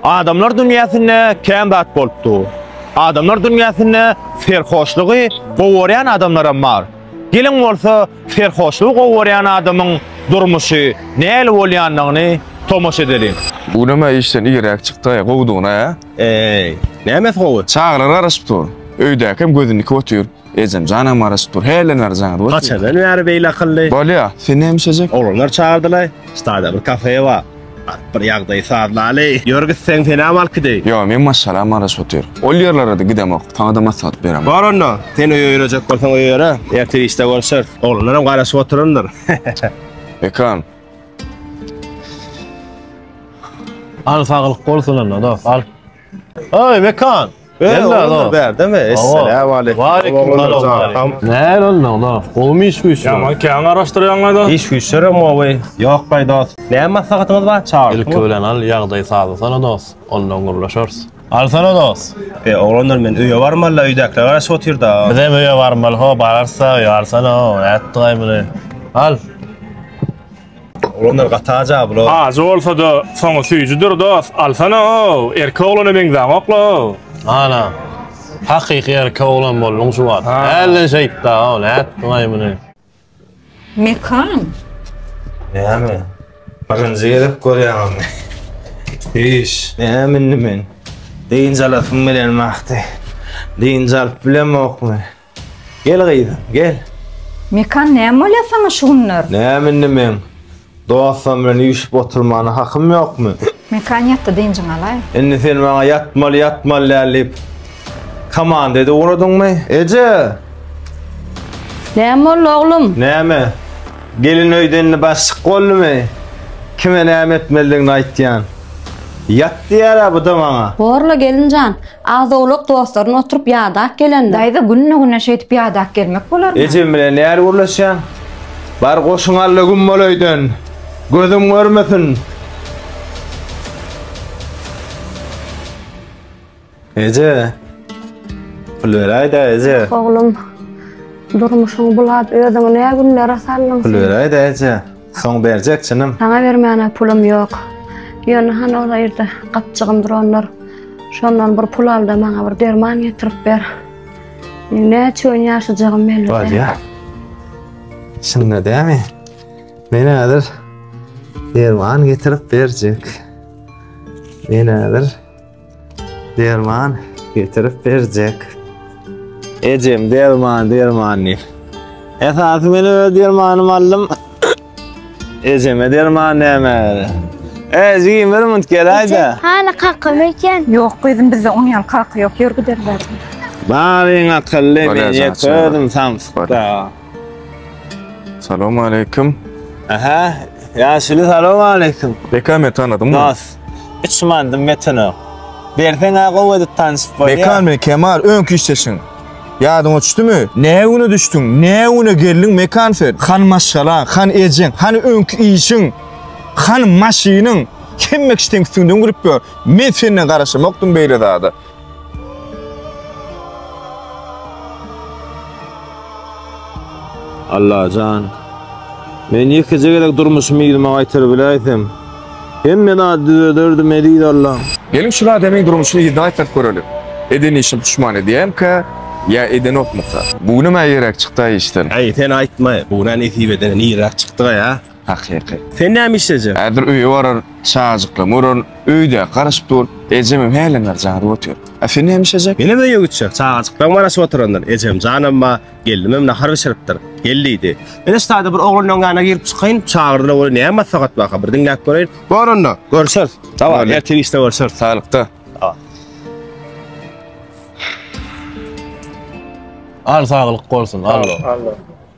Adamlar dünýäsinde kän zat bolup dur. Adamlar dünýäsinde serhoşlygy gowy görýän adamlaram bar. Geliň bolsa serhoşlygy gowy görýän adamyň durmuşy nähili bolýandygyny tomaşa edeliň. Bu näme işden irräk çykdaýa gowudygyna-a? Eý, nämesi gowy? Çagalar garaşyp dur. Öýdäkem gözündiki otyr. Ejem janam garaşyp dur. Hälden bäri jaňyr bolsun. Haçandan bäri beýle akylly? Bolýa, sen näme içejek? Oglanlar çagyrdylaý. Stada bir kafe bar. Baryp bir ýagdaýy sazlaly. Ýör git sen, senäm alkidi. Ýok, men maşgala garaşyp otyryn. Ol ýerlere-de gidemok. Saňa-da maslahat beremok. Bar onda, sen öýe ýörejek bolsaň öýe ýöre. Ertir işde görüşeris. Oglanlaram garaşyp oturandyr. Ekran. Al saglyk bolsun onda dost, al. Ay Mekan. Gel lan o. Berde mi? Esselamu aleyküm. Wa aleyküm salam. Ne lan ola? Gowmy iş güýçli? Ya men käň araşdyrýan gaýda. Iş güýçlere mowy. Ýok gaý dost. Ne maslahatyňyz bar çagyr. Ilki bilen al ýagdaý sazlasana dost. Ondan gürleşeris. Alsana dost. E oglanlar men öýe barmalla öýdäkiler garaşyp otyrda. Biz hem öýe barmaly ho bararsa öýe alsana o nätdi gaý muny. Al. Olanlar gataja bular. Ajy bolsa-da, soňy süýjüdir dos, alsana-ow, erkek oglana meňzäňok-la-ow. Ana, hakyky erkek oglan bolduň şu wagt. Hälden şeýtda-ow, nätdiň-aý muny? Mekan. Näme? Birinji gezek görýäňizmi? Hiş. Näme indi men? Dynç alasyň bilenmi ahde? Dynç alyp bilemokmy? Gel gyzym, gel. Mekan näme bolýar saňa şu günler? Näme indi meň? Dostam bilen üýşüp oturmana hakym ýokmy? Mekan ýatdy dynjyňy alaý. Indi sen maňa ýatmaly ýatmaly däl diýip komanda edip ugradyňmy? Eje! Näme boldy oglum? Näme? Gelin öýden indi başyk boldumy? Kime näme etmelidigini aýtýan. Ýat diýýärä bu-da maňa. Borla gelin jan. Az-owlak dostlaryny oturyp ýadap gelendir. Daýza günde-güne şeýdip ýadap gelmek bolarmy? Ejem bilen nähili gürleşýäň? Bar goşuň Alla güm bol öýden. Gözüň görmesin. Eje. Pul beräýdä eje. Oglum, durmuşyňy bulap özüňi nä günlere saldyň sen? Pul beräýdä eje. Soň berjek çynym. Saňa bermäne pulum ýok. Ýöne han ol ýerde gapjygym durandyr. Şondan bir pul al-da maňa bir derman getirip ber. Meň näçe gün ýaşajagym belli däl. Bolýa. Şunda dämi? Men häzir derman getirip berjek. Men häzir Derman getirip berjek. Ejem derman derman diýip. Esasy men öz dermanymy aldym. Ejeme derman näme? Ej, giýin bir minut gel aýda. Hala kakam eken. Ýok gyzym bizde oň ýaly kaka ýok. Ýör giderler. Baryň akylly, men ýek özüm samsykda. Salam aleyküm. Aha, yaşili salam aleyküm. Beka me tanadym. Nas. Üç mandım metene. Bersen ha gowy edip tanışyp bolýar. Beka me Kemal öňki işleşiň. Yadyň uçtu mu? Ne güne düştün? Ne güne geldin mekan sen? Han maşgala, han ejin, han öňki işin, han maşinin. Kim mekşten üstünden gülüp gör. Men senden garaşamokdum beyle zada. Allajan Men ýekeje gezek durmuşymy yzyma gaýtaryp biläýsem, hemme zady düzederdim eziz Allam. Geliň şul adamyň durmuşyny yzyna gaýtaryp göreli. Eden işim puşman edýämka ýa edenokmyka. Bu günem-ä ýerräk çykdy-aý işden. Äý sen aýtma, bu günä nesip edene nirräk çykdyga ýa. Hakyky. Sen näme işlejek? Häzir öýe barar, çajyklama urar, öýdäki garaşyp dur, ejemem hälem bäri jadyp otyr. A sen näme işlejek? Menem öýe gitjek, çagajyklam garaşyp oturandyr, ejem janam bar, gelnimem nahar bişiripdir. Gel diýdi. Men-ä ştada bir oglanlaryň ýanyna girip çykaýyn, çagyrdylar welin näme maslahat barka bir diňläp göreýin. Bor onda, görüşeris. Hawa, ertir işde görüşeris. Saglykda. Al saglyk bolsun, allo.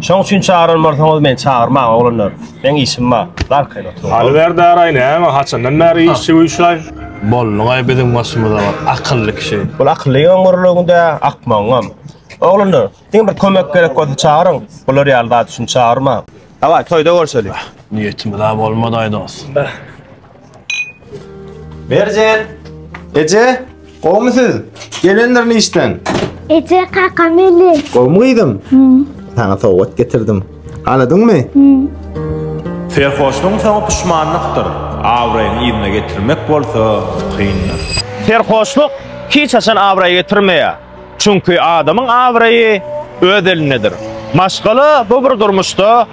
Şoň üçin çagyran bolsaňyz meni çagyrmaň oglanlar. Meň işim bar. Darkaýyn oturyň. Aly Serdaray näme haçandan bäri işçi güýçlaý. Bolduňaý biziň başymyza bir akylly kişi. Bul akylly ýygyň gürrüňde akmagyňam. Oglanlar, diňe bir kömek gerek bolsa çagyryň. Bular ýaly zat üçin çagyrmaň. Dawaý, toýda görşeli. Niýetimiz-ä bolmadaý dos. Merjen! Eje, gowmy siz? Gelendirin işden. Ece kaka meli. Gowmy gyzym? Sana sowgat getirdim. Aladyňmy? Serhoşlugyň soňy puşmanlykdyr, abraýyňy ýerine getirmek bolsa kyndyr. Serhoşluk hiç haçan abraý getirmeýär. Çünki adamyň abraýy öz elindedir. Maşgala bu bir durmuşda